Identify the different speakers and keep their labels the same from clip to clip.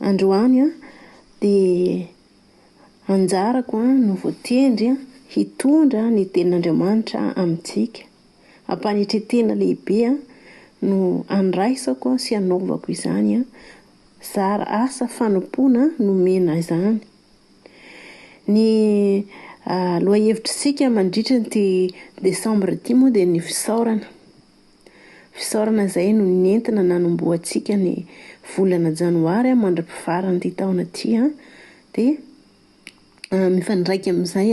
Speaker 1: Androany dia anjarako no voatendry hitondra ny tenin'Andriamanitra amintsika. Am-panetren-tena lehibe no andraisako sy anaovako izany. Zara asa fanompoana no omena ahy izany. Ny lohahevitr'isika mandritra ity desambra ity moa dia ny fisaorana. Fisaorana izay no nentina nanombohantsika ny volana janoary mandra-pifaran'ity taona ity. Dia mifandraika amin'izay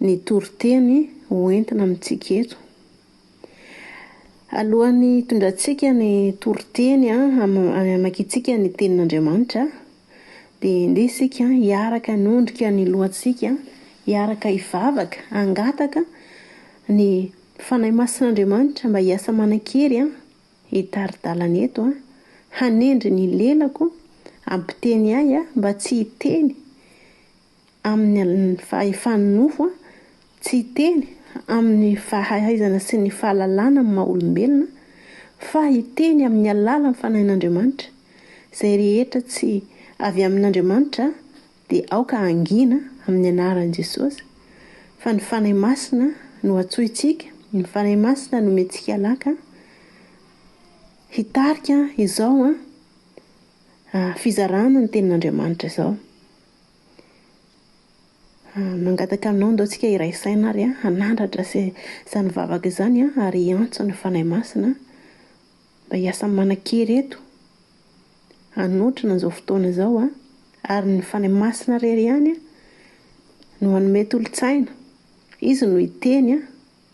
Speaker 1: ny toriteny hoentina amintsika eto. Alohan'ny hitondrantsika ny toriteny hamakiantsika ny tenin'Andriamanitra, dia ndeha isika hiaraka hanondrika ny lohantsika, hiaraka hivavaka, hangataka ny Fanahy Masin'Andriamanitra mba hiasa manan-kery hitari-dalana eto, hanendry ny lelako, hampiteny ahy mba tsy hiteny amin'ny fahefan'ny nofo, tsy hiteny amin'ny fahaizana sy ny fahalalana amin'ny maha olombelona, fa hiteny amin'ny alalan'ny Fanahin'Andriamanitra, izay rehetra tsy avy amin'Andriamanitra Dia aoka hangina amin'ny anaran'i Jesosy fa ny Fanahy Masina no antsointsika, ny Fanahy Masina no omentsika laka hitarika izao fizarana ny tenin'Andriamanitra izao. Mangataka aminao ndao tsika hiray saina ary hanandratra izany vavaka izany ary hiantso ny Fanahy Masina Mba hiasa manan-kery eto hanotrona an'izao fotoana izao a! Ary ny Fanahy Masina irery ihany no hanome tolo-tsaina. Izy no hiteny a!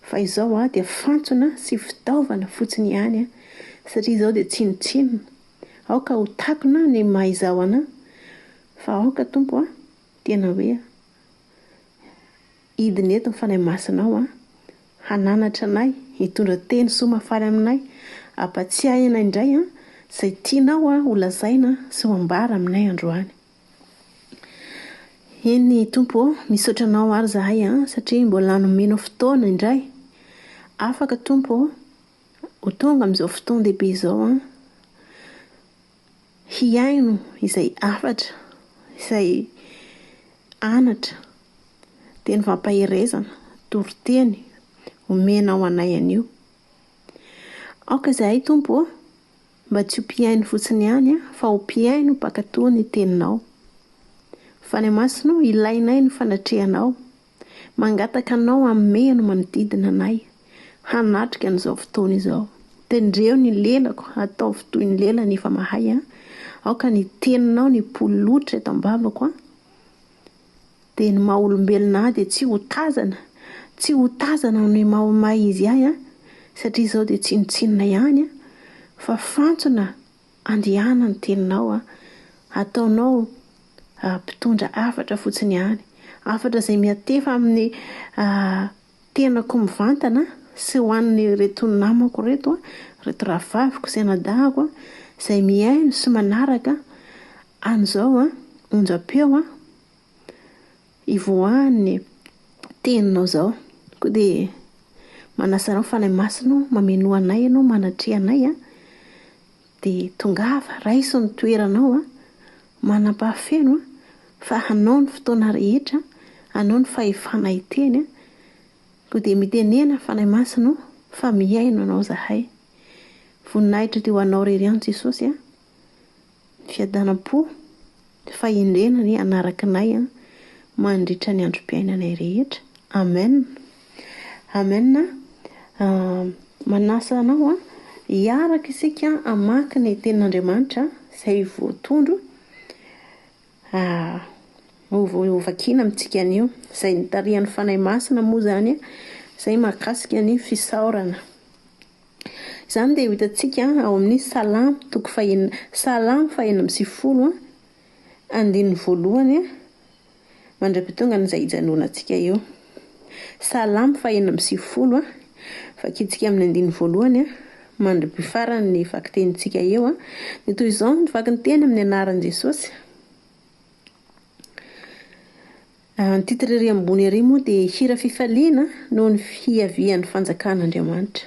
Speaker 1: Fa izao aho dia fantsona sy fitaovana fotsiny ihany a! Satria izaho dia tsinontsinona. Aoka ho takona ny maha izaho anà. Fa aoka Tompo a! Tena hoe. Hidina eto ny Fanahy Masinao an, hananatra anay, hitondra teny soa mahafaly aminay, hampatsiahy anay indray an, izay tianao an ho lazaina sy ho ambara aminay androany. Eny Tompo ô, misaotra Anao ary izahay an, satria mbola nomenao fotoana indray. Afaka Tompo ô, ho tonga amin'izao fotoan-dehibe izao an. hihaino izay hafatra, izay anatra, teny fampaherezana, toriteny omenao anay anio. Aoka izahay Tompo ô, mba tsy ho mpihaino fotsiny ihany an, fa ho mpihaino mpankatò ny Teninao. Fanahy Masina ô, ilainay ny fanatrehanao. Mangataka anao hamehy ny manodidina anay hanatrika an'izao fotoana izao. Tendreo ny lelako, ataovy toy ny lelany efa mahay an! Aoka ny teninao ny polotra eto am-bavako an! Dia ny maha olombelona ahy dia tsy ho tazana, tsy ho tazana noho ny maha maha izy ahy an! Satria izao dia tsinontsinona ihany an! Fa fantsona Andehana ny teninao a! Ataonao mpitondra hafatra fotsiny ihany. Hafatra izay miantefa amin'ny tenako mivantana sy ho an'ireto namako ireto, ireto rahavaviko sy anadahako izay mihaino sy manaraka an'izao onjam-peo Hivoahan ny teninao izao. Koa dia manasa anao Fanahy Masina ô, mamenoa anay ianao, manatreha anay an. Dia tongava, raiso ny toeranao an, manam-pahafeno an, fa anao ny fotoana rehetra, anao ny fahefana hiteny an. Koa dia mitenena Fanahy Masina ô, fa mihaino anao izahay. Voninahitra dia ho anao irery ihany Jesosy an. Fiadanam-po, fahendrena anie hanaraka anay an mandritra ny androm-piainanay rehetra. Amen! Amen a! Manasa anao an, hiaraka isika hamaky ny tenin'Andriamanitra izay voatondro hovakiana amintsika anio. Izay notarihan'ny Fanahy Masina moa izany izay mahakasika ny fisaorana. Izany dia ho hitantsika ao amin'ny Salamo toko fahenina Salamo fahenina amby sivifolo, andininy voalohany, mandra-pitonga an'izay hijanonantsika eo. Salamo fahenina amby sivifolo, vakintsika amin'ny andininy voalohany mandra-pifarany ny vakitenintsika eo. Dia toy izao ny vakinteny amin'ny anaran'i Jesosy. Ny titre ery ambony ery moa dia hira fifaliana noho ny fiavian'ny fanjakan'Andriamanitra.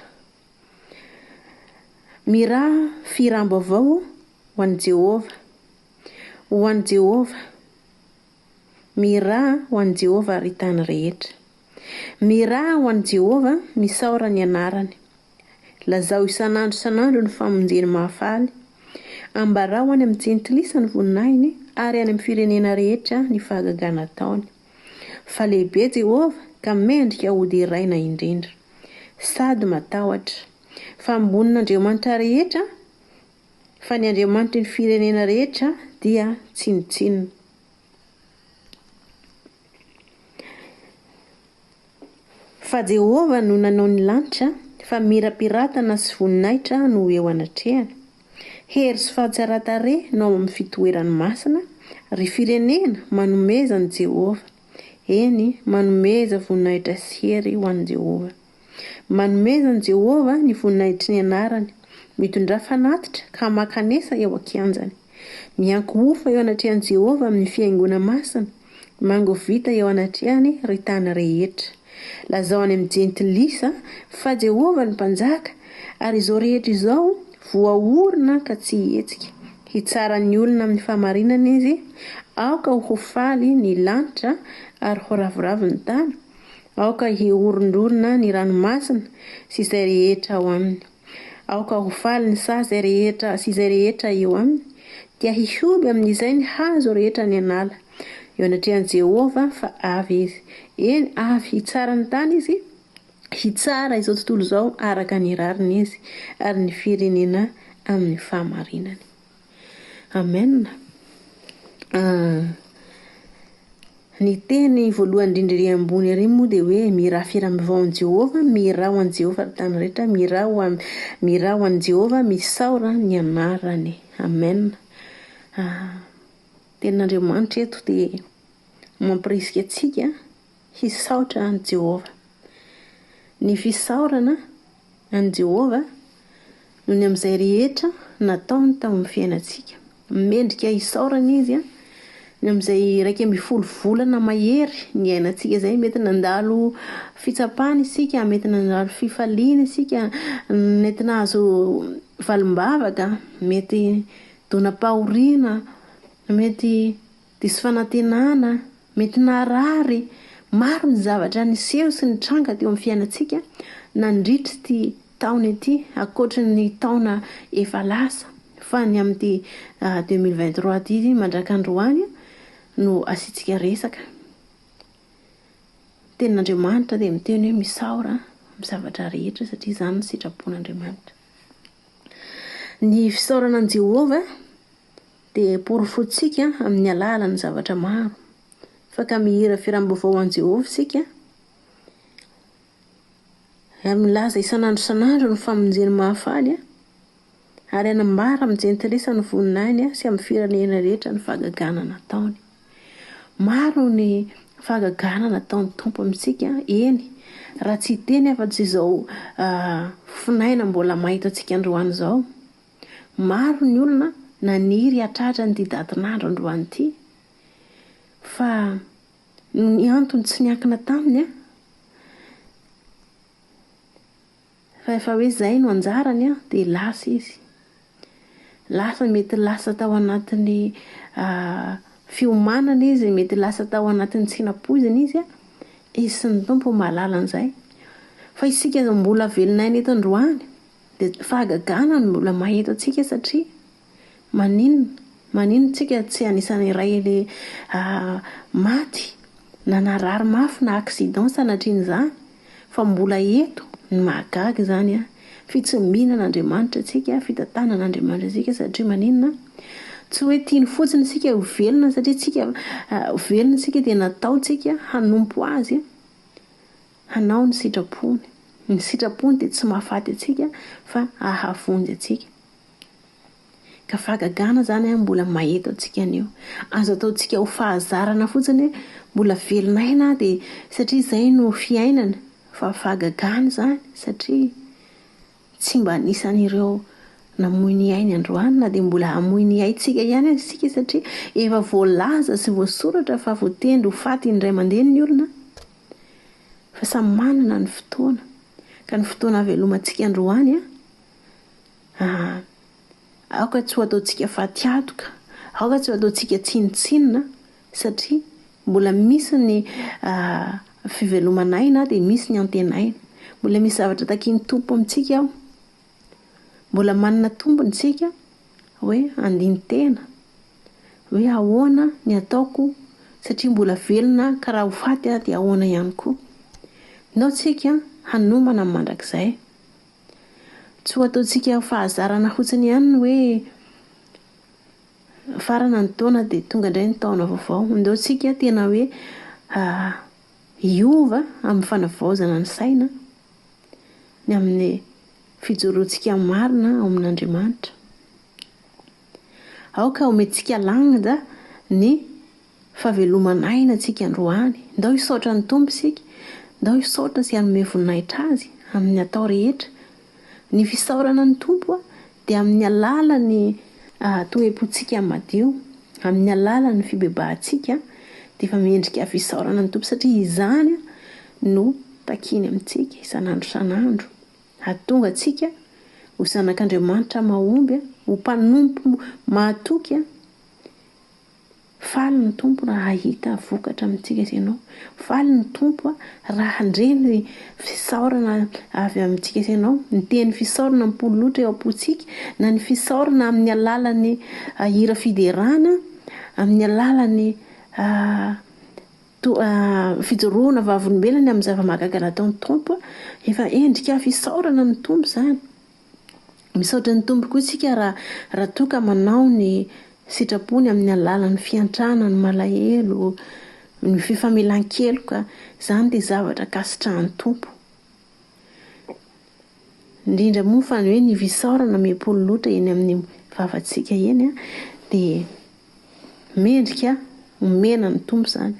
Speaker 1: Miraha fihiràm-baovao ho an'i Jehovah. Ho an'i Jehovah. Miraha ho an'i Jehovah ry tany rehetra. Miraha ho an'i Jehovah, misaora ny anarany. Lazao isan'andro isan'andro ny famonjeny mahafaly. Ambarao any amin'ny Jentilisa ny voninahiny, ary any amin'ny firenena rehetra ny fahagagana ataony. Fa lehibe Jehovah, ka mendrika hoderaina indrindra. Sady matahotra. Fa ambonin'andriamanitra rehetra, fa ny Andriamanitry ny firenena rehetra dia tsinontsinona. Fa Jehovah no nanao ny lanitra, fa mirapiratana sy voninahitra no eo anatrehany. Hery sy fahatsaran-tarehy no ao amin'ny fitoerany masina, ry firenena, manomeza an'i Jehovah. Eny, manomeza voninahitra sy hery ho an'i Jehovah. Manomeza an'i Jehovah ny voninahitry ny anarany, mitondrà fanatitra ka makanesa eo an-kianjany. Miankohofa eo anatrehan'i Jehovah amin'ny fihaingoana masina, mangovita eo anatrehany, ry tany rehetra. Lazao any amin'ny Jentilisa fa Jehovah no Mpanjaka, ary izao rehetra izao voaorina ka tsy hihetsika. Hitsara ny olona amin'ny fahamarinana izy, Aoka ho faly ny lanitra ary ho ravoravo ny tany, aoka hiorondrorona ny ranomasina sy izay rehetra ao aminy. Aoka ho faly ny saha izay rehetra sy izay rehetra eo aminy, dia hihoby amin'izay ny hazo rehetra any an'ala, eo anatrehan'i Jehovah, fa avy izy, eny, avy hitsara ny tany izy, hitsara izao tontolo izao araka ny rariny izy, ary ny firenena amin'ny fahamarinany. Amen Ny teny voalohany indrindra ery ambony ery moa dia hoe miraha firam-baovao amin'i Jehovah, miraha ho an'i Jehovah ry tany rehetra, miraha ho an'i miraha ho an'i Jehovah, misaora ny anarany. Amen Tenin'Andriamanitra eto dia mampirisika antsika hisaotra an'i Jehovah. Ny fisaorana an'i Jehovah noho ny amin'izay rehetra nataony tao amin'ny fiainantsika. Mendrika hisaorana izy ny amin'izay iraika ambin'ny folo volana mahery niainantsika izay. Mety nandalo fitsapana isika, mety nandalo fifaliana isika, mety nahazo valim-bavaka, mety donam-pahoriana, mety Diso fanantenana, mety naharary maro ny zavatra niseho sy nitranga teo amin'ny fiainantsika nandritra ity taona ity, ankoatry ny taona efa lasa, fa ny amin'ity deux mille vingt trois ity mandraka androany no asiantsika resaka. Ny tenin'Andriamanitra dia miteny hoe misaora amin'ny zavatra rehetra satria izany ny sitrapon'Andriamanitra. Ny fisaorana an'i Jehovah dia porofointsika amin'ny alalan'ny zavatra maro fa ka mihira firam-baovao ho an'i Jehovah isika, ary milaza isan'andro isan'andro ny famonjeny mahafaly, ary hanambara amin'ny jentilisa ny voninahiny sy amin'ny firenena rehetra ny fahagagana nataony. Maro ny fahagagana nataon'ny Tompo amintsika, eny, raha tsy hiteny afa-tsy izao fonay mbola mahitantsika androany izao. Maro ny olona naniry hatratra an'ity datin'andro androany ity fa noho ny antony tsy niankina taminy an, fa efa hoe izay no anjarany an, dia lasa izy. Lasa mety lasa tao anatin'ny fiomanana izy, mety lasa tao anatin'ny tsy nampoizina izy an, izy sy ny Tompo no mahalala an'izay. Fa isika mbola velon'aina eto androany. Dia fahagagana no mbola mahita antsika satria maninona? Maninona tsika tsy anisan'ny iray le maty na narary mafy na accident sanatrian'izany? Fa mbola eto ny mahagaga izany an! Fitsimiana an'Andriamanitra antsika, fitantanana an'Andriamanitra antsika satria maninona? Tsy hoe tiany fotsiny isika ho velona satria tsika ho velona isika dia nataontsika hanompo azy. Hanao ny sitrapony. Ny sitrapony dia tsy mahafaty antsika fa ahavonjy antsika. Ka fahagagana izany an, mbola maheto antsika anio. Azo ataontsika ho fahazarana fotsiny hoe mbola velon'aina aho dia satria izay no fiainana. Fa fahagagana izany satria tsy mba anisan'ireo namoy ny ainy androany na dia mbola hamoy ny aintsika ihany aza isika satria efa voalaza sy voasoratra fa voatendry ho faty indray mandeha ny olona. fa samy manana ny fotoana, ka ny fotoana havelomantsika androany an, aoka tsy ho ataontsika fatiadoka, aoka tsy ho ataontsika tsinontsinona satria mbola misy ny fivelomanay na dia misy ny antenaina, mbola misy zavatra takian'ny Tompo amintsika ao. Mbola manana tombony isika hoe handini-tena hoe ahoana ny ataoko satria mbola velona aho ka raha ho faty aho dia ahoana ihany koa. Nao tsika hanomana ny mandrakizay. Tsy ho ataontsika ho fahazarana fotsiny ihany ny hoe mifarana ny taona dia tonga indray ny taona vaovao. Ndao tsika tena hoe hiova amin'ny fanavaozana ny saina. ny amin'ny fijoroantsika marina ao amin'Andriamanitra. Aoka homentsika lanja ny fahaveloman'aina antsika androany. Ndao hisaotra ny Tompo isika, ndao hisaotra sy hanome voninahitra Azy amin'ny atao rehetra. Ny fisaorana ny Tompo dia amin'ny alalan'ny toe-pontsika madio, amin'ny alalan'ny fibebahantsika dia efa mendrika fisaorana ny Tompo satria izany no takiany amintsika isan'andro isan'andro hahatonga antsika ho zanak'Andriamanitra mahomby, ho mpanompo mahatoky. Faly ny Tompo raha hahita vokatra amintsika sy ianao. Faly ny Tompo raha handre ny fisaorana avy amintsika sy ianao. Ny teny fisaorana mipololotra eo am-pontsika, na ny fisaorana amin'ny alalan'ny hira fiderana, amin'ny alalan'ny fijoroana vavolombelona amin'ny zava-mahagaga nataon'ny Tompo. Efa endrika fisaorana amin'ny Tompo izany. Misaotra ny Tompo koa isika raha raha toa ka manao ny sitrapony amin'ny alalan'ny fiantrana, ny malahelo, ny fifamelan-keloka. Izany dia zavatra ankasitrahan'ny Tompo. Indrindra moa fa ny hoe ny fisaorana miha-poly loatra eny amin'ny vavantsika eny an, dia Mendrika homena ny Tompo izany.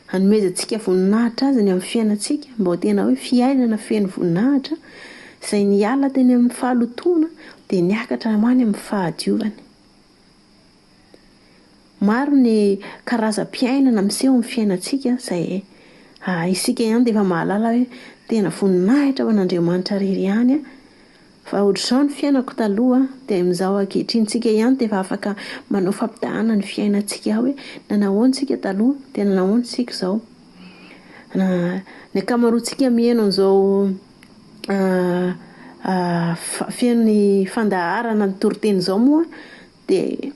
Speaker 1: Hanomezantsika voninahitra Azy ny amin'ny fiainantsika, mba ho tena hoe fiainana feno voninahitra, izay niala teny amin'ny fahalotoana dia niakatra ho any amin'ny fahadiovana. Maro ny karazam-piainana miseho amin'ny fiainantsika izay isika ihany dia efa mahalala hoe tena voninahitra ho an'Andriamanitra irery ihany Fa ohatr'izao ny fiainako taloha dia amin'izao ankehitriny. Tsika ihany dia efa afaka manao fampitahana ny fiainantsika hoe nanahoana tsika taloha dia nanahoana tsika izao. Ny ankamaroantsika miheno an'izao feno ny fandaharana ny toriteny izao moa dia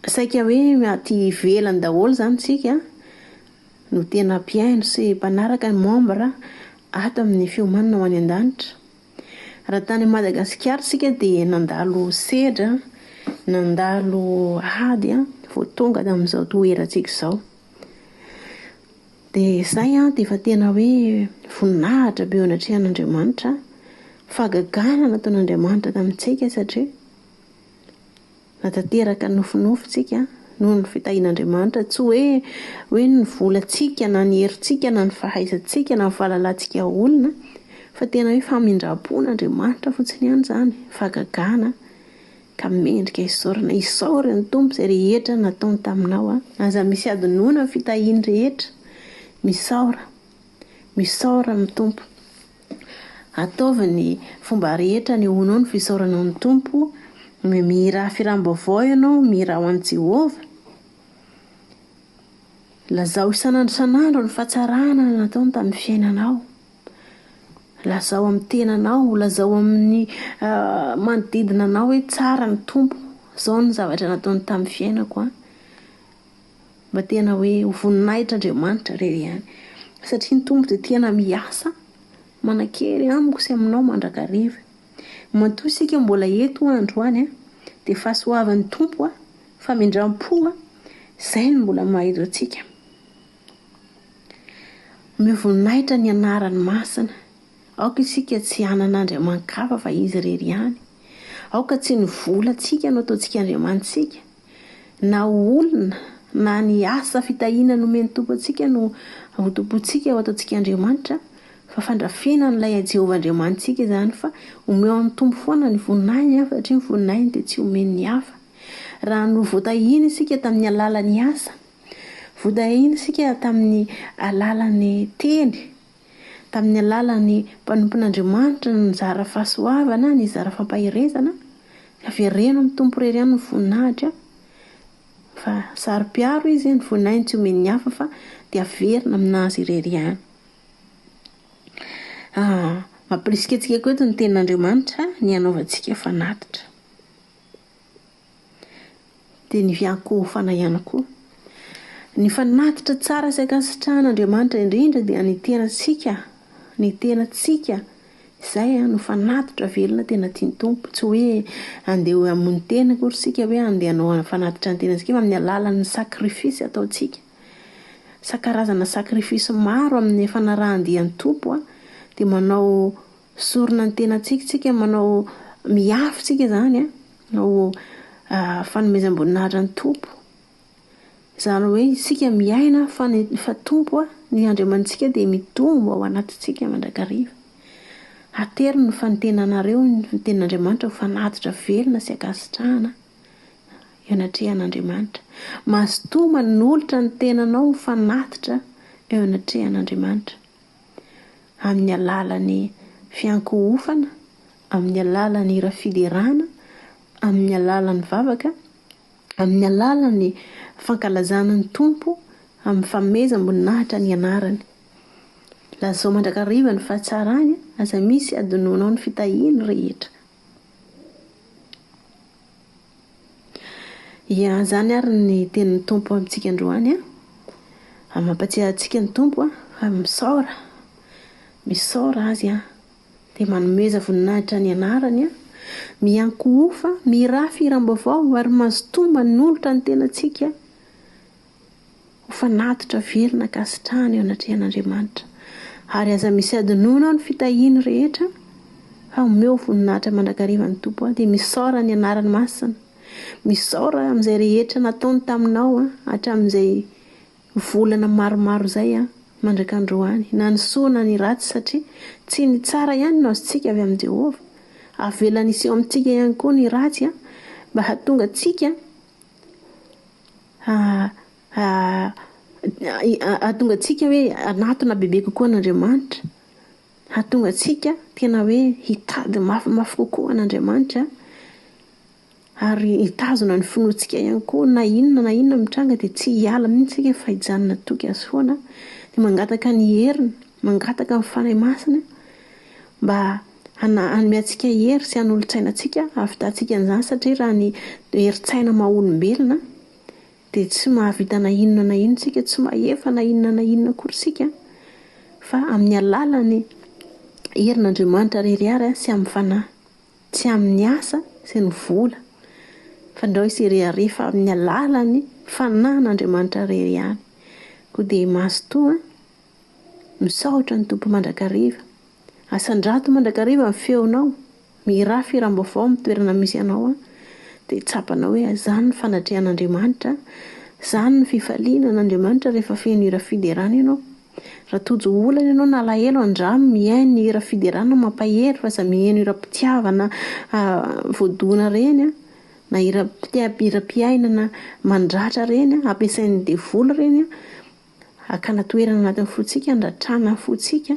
Speaker 1: saika hoe aty ivelany daholo izany tsika no tena mpihaino sy mpanaraka ny membre ato amin'ny fiomanana ho any an-danitra. Raha tany Madagasikara isika dia nandalo sedra, nandalo ady an, vao tonga tamin'izao toerantsika izao. Dia izay an, dia efa tena hoe voninahitra be eo anatrehan'Andriamanitra, fahagagana nataon'Andriamanitra tamintsika satria. Na tanteraka nofinofintsika noho ny fitahian'Andriamanitra, tsy hoe hoe ny volantsika na ny herintsika na ny fahaizantsika na ny fahalalantsika olona, fa tena hoe famindram-pon'Andriamanitra fotsiny ihany izany, fahagagana, ka mendrika hisaorana. Isaory ny Tompo izay rehetra nataony taminao a. Aza misy hadinoina ny fitahiany rehetra. Misaora. Misaora ny Tompo. Ataovy ny fomba rehetra anehoanao ny fisaoranao ny Tompo, hoe mihirà firam-baovao ianao, mihirà ho an'i Jehovah. Lazao isan'andro isan'andro ny fahatsarana nataony tamin'ny fiainanao. Lazao amin'ny tenanao, lazao amin'ny manodidina anao hoe tsara ny Tompo, izao no zavatra nataony tamin'ny fiainako an. Mba tena hoe ho voninahitr' Andriamanitra re ihany. Satria ny Tompo dia tena miasa manan-kery amiko sy aminao mandrakariva. Matoa isika mbola eto androany dia fahasoavan'ny Tompo, famindram-po, izay no mbola mahazo antsika. Omeo voninahitra ny anarany masina. Aoka isika tsy hanana andriaman-kafa fa izy irery ihany. Aoka tsy ny volantsika no ataontsika andriamanitsika. Na ho olona na ny asa fitahiana nomen'ny Tompo antsika no hotompointsika, hoataontsika Andriamanitra, fa fandrafena an'ilay Jehovah Andriamanitsika izany fa omeo an'ny Tompo foana ny voninahiny an, satria ny voninahiny dia tsy omen'ny hafa. Raha no voatahina isika tamin'ny alalan'ny asa, voatahina isika tamin'ny alalan'ny teny, Tamin'ny alalan'ny mpanompon'Andriamanitra no nizara fahasoavana, nizara fampaherezana, avereno amin'ny Tompo irery ihany ny voninahitra, fa saro-piaro izy, ny voninahiny tsy omen'ny hafa fa dia averina aminazy irery ihany. Mampirisika antsika koa eto ny tenin'Andriamanitra ny hanaovantsika fanatitra. dia ny fiankohofana ihany koa. Ny fanatitra tsara sy ankasitrahan' Andriamanitra indrindra dia ny tenantsika, ny tenantsika, izay no fanatitra velona tena tian'ny Tompo. Tsy hoe andeha ho hamono tena akory isika hoe andeha hanao fanatitra ny tenantsika fa amin'ny alalan'ny sacrifice ataontsika. Sa- karazana sacrifice maro amin'ny fanarahan-dia ny Tompo an, dia manao Sorona ny tenantsika tsika manao miafy tsika izany ho fanomezam-boninahitra ny Tompo. Izany hoe isika miaina fa ny fa Tompo a, ny Andriamanitsika dia mitombo ao anatintsika mandrakariva. Atero ny fantenanareo ny tenin'Andriamanitra ho fanatitra velona sy ankasitrahana eo anatrehan'Andriamanitra. Mazotoa manolotra ny tenanao ho fanatitra eo anatrehan'Andriamanitra. amin'ny alalan'ny fiankohofana, amin'ny alalan'ny hira fiderana, amin'ny alalan'ny vavaka, amin'ny alalan'ny fankalazana ny Tompo, amin'ny fanomezam-boninahitra ny anarany. Lazao mandrakariva ny fahatsarany, aza misy hadinoanao ny fitahiany rehetra. Ia, izany ary ny tenin'ny Tompo amintsika androany an! Mampatsiahy antsika ny Tompo an, fa misaora, misaora Azy an, dia manomeza voninahitra ny anarany an, miankohofa, mirafy hiram-baovao ary mazotoa manolotra ny tenantsika. Ho fanatitra velona ankasitrahana eo anatrehan'Andriamanitra. Ary aza misy adinoina ao ny fitahiany rehetra, fa omeo voninahitra mandrakariva ny Tompo aho, dia misaora ny anarany masina. Misaora amin'izay rehetra nataony taminao hatramin'izay volana maromaro izay mandrak'androany, na ny soa na ny ratsy, satria tsy ny tsara ihany no azontsika avy amin'i Jehovah. Avelany hiseho amintsika ihany koa ny ratsy mba hahatonga antsika Hahatonga antsika hoe hanatona bebe kokoa an'Andriamanitra. Hahatonga antsika tena hoe hitady mafimafy kokoa an'Andriamanitra. Ary hitazona ny finoantsika ihany koa. Na inona na inona mitranga dia tsy hiala mihitsy isika fa hijanona toky Azy foana. Dia mangataka ny heriny, mangataka ny Fanahy Masina mba Hana, hanome antsika hery sy hanolo-tsaina antsika hahavitantsika an'izany satria raha ny herin-tsaina maha olombelona dia tsy mahavita na inona na inona isika, tsy mahefa na inona na inona akory isika fa amin'ny alalan'ny herin'Andriamanitra irery ary sy amin'ny fanahy. Tsy amin'ny asa sy ny vola fa ndrao hisy hirehareha fa amin'ny alalan'ny fanahin'Andriamanitra irery ihany. Koa dia mazotoa misaotra ny Tompo mandrakariva. Asandrato mandrakariva ny feonao, mihirà feo hiram-baovao amin'ny toerana misy anao a, dia tsapanao hoe izany no fanatrehan'Andriamanitra, izany no fifaliana an'Andriamanitra rehefa feno hira fiderana ianao. Raha tojo olana ianao na alahelo andramo mihaino ny hira fiderana mampahery fa aza miheno hiram-pitiavana voadona ireny a, na hiram-piainana mandratra ireny ampiasain'ny devoly ireny a. hakana toerana anatin'ny fontsika, handratrana ny fontsika,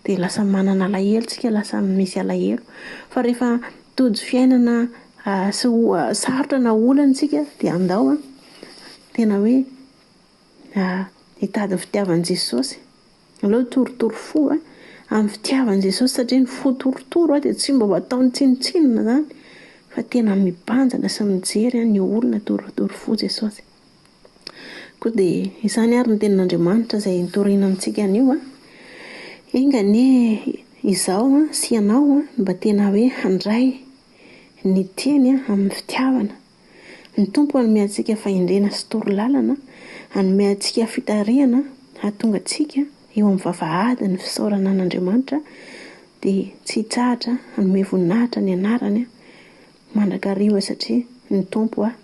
Speaker 1: dia lasa manana alahelo tsika, lasa misy alahelo. Fa rehefa tojo fiainana sy oha- sarotra na olana tsika dia andao an, tena hoe hitady ny fitiavan'i Jesosy. Aleo hitorotoro fo amin'ny fitiavan'i Jesosy satria ny fo torotoro dia tsy mba ho ataony tsinontsinona izany fa tena mibanjina sy mijery ny olona, torotoro fo Jesosy. Koa dia izany ary ny tenin'Andriamanitra izay nitoriana amintsika anio an, enga anie izaho sy ianao an, mba tena hoe handray ny tiany amin'ny fitiavana. Ny Tompo hanome antsika fahendrena sy toro lalana, hanome antsika fitarihana hahatonga antsika eo amin'ny vavahadin'ny fisaorana an'Andriamanitra, dia tsy hitsahatra hanome voninahitra ny anarany mandrakariva satria ny Tompo an.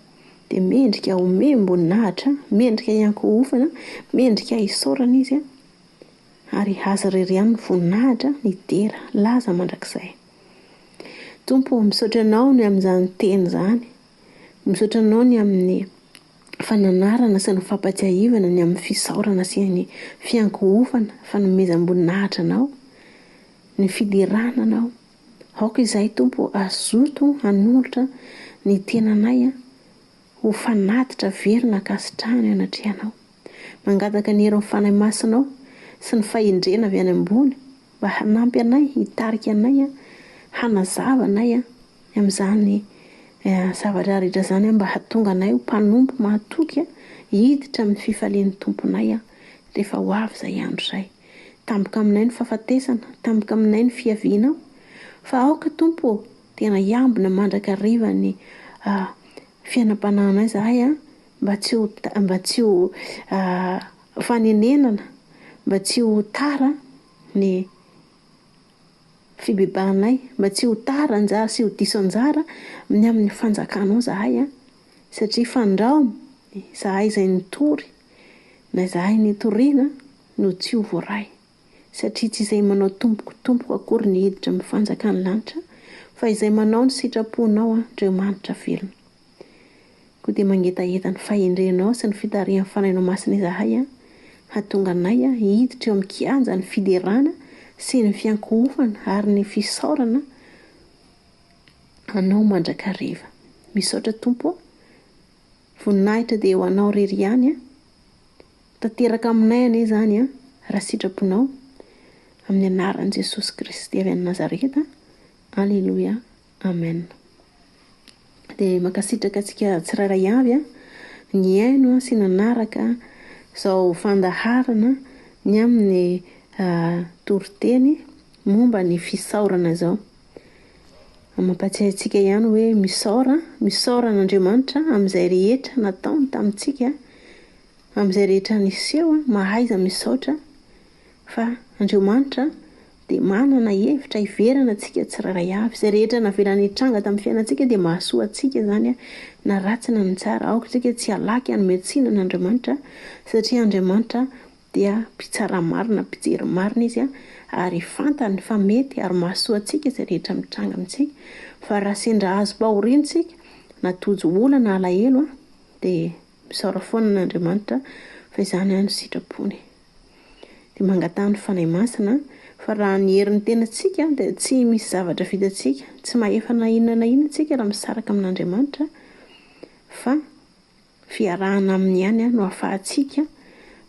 Speaker 1: dia mendrika homem-boninahitra, mendrika hiankohofana, mendrika hisaorana izy, ary Azy irery ihany ny voninahitra, ny dera, laza mandrakizay. Tompo ô, misaotra Anao ny amin'izany teny izany, misaotra Anao ny amin'ny fananarana sy ny fampahatsiahivana ny amin'ny fisaorana sy ny fiankohofana, fanomezam-boninahitra Anao, ny fiderana Anao. Aoka izahay, Tompo, hazoto hanolotra ny tenanay ho fanatitra very nankasitrahana eo anatrehanao. Mangataka ny herin'ny Fanahy Masinao sy ny fahendrena avy any ambony mba hanampy anay, hitarika anay, hanazava anay amin'izany zavatra rehetra izany mba hahatonga anay ho mpanompo mahatoky hiditra amin'ny fifalian'ny Tomponay rehefa ho avy izay andro izay. Tampoka aminay ny fahafatesana, tampoka aminay ny fiavianao, fa aoka Tompo ô, tena hiambina mandrakariva ny fiainam-panahinay izahay an, mba tsy ho mba tsy ho fanenenana, mba tsy ho tara ny fibebahanay, mba tsy ho tara anjara sy ho diso anjara ny amin'ny fanjakanao izahay an, satria fandrao izahay izay nitory, na izahay nitoriana. no tsy ho voaray, satria tsy izay manao tompoko tompoko akory ny hiditra amin'ny fanjakan'ny lanitra, fa izay manao ny sitraponao Andriamanitra velona. Koa dia mangetaheta ny fahendrenao sy ny fitarihan'ny Fanahinao Masina izahay an, hahatonga anay hiditra eo amin'ny kianjan'ny fiderana sy ny fiankohofana ary ny fisaorana Anao mandrakariva. Misaotra Tompo a. Voninahitra dia ho Anao irery ihany an. Ho tanteraka aminay anie izany an, raha sitraponao. Amin'ny anaran'i Jesosy Kristy avy any Nazareta. Aleloia, Amen. Dia mankasitraka antsika tsirairay avy nihaino sy nanaraka izao fandaharana ny amin'ny toriteny momba ny fisaorana izao. Mampahatsiahy antsika ihany hoe misaora, misaora an'Andriamanitra amin'izay rehetra nataony tamintsika. Amin'izay rehetra niseho, mahaiza misaotra fa Andriamanitra dia manana hevitra hiverana antsika tsirairay avy. Izay rehetra navelany nitranga tamin'ny fiainantsika dia mahasoa antsika izany na ratsy na ny tsara. Aoka isika tsy halaky hanome tsiny an'Andriamanitra satria Andriamanitra dia mpitsara marina, mpijery marina Izy ary fantany fa mety ary mahasoa antsika izay rehetra mitranga amintsika. Fa raha sendra azom-pahoriana isika na tojo olana, alahelo dia Misaora foana an' Andriamanitra fa izany ihany no sitrapony. Dia mangataha ny Fanahy Masina fa raha ny herin'ny tenantsika dia tsy misy zavatra vitantsika, tsy mahefa na inona na inona isika raha misaraka amin' Andriamanitra fa fiarahana aminy ihany no ahafahantsika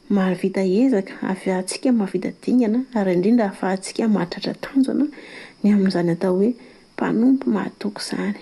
Speaker 1: mahavita ezaka, ahafahantsika mahavita dingana ary indrindra ahafahantsika mahatratra tanjona ny amin'izany atao hoe mpanompo mahatoky izany.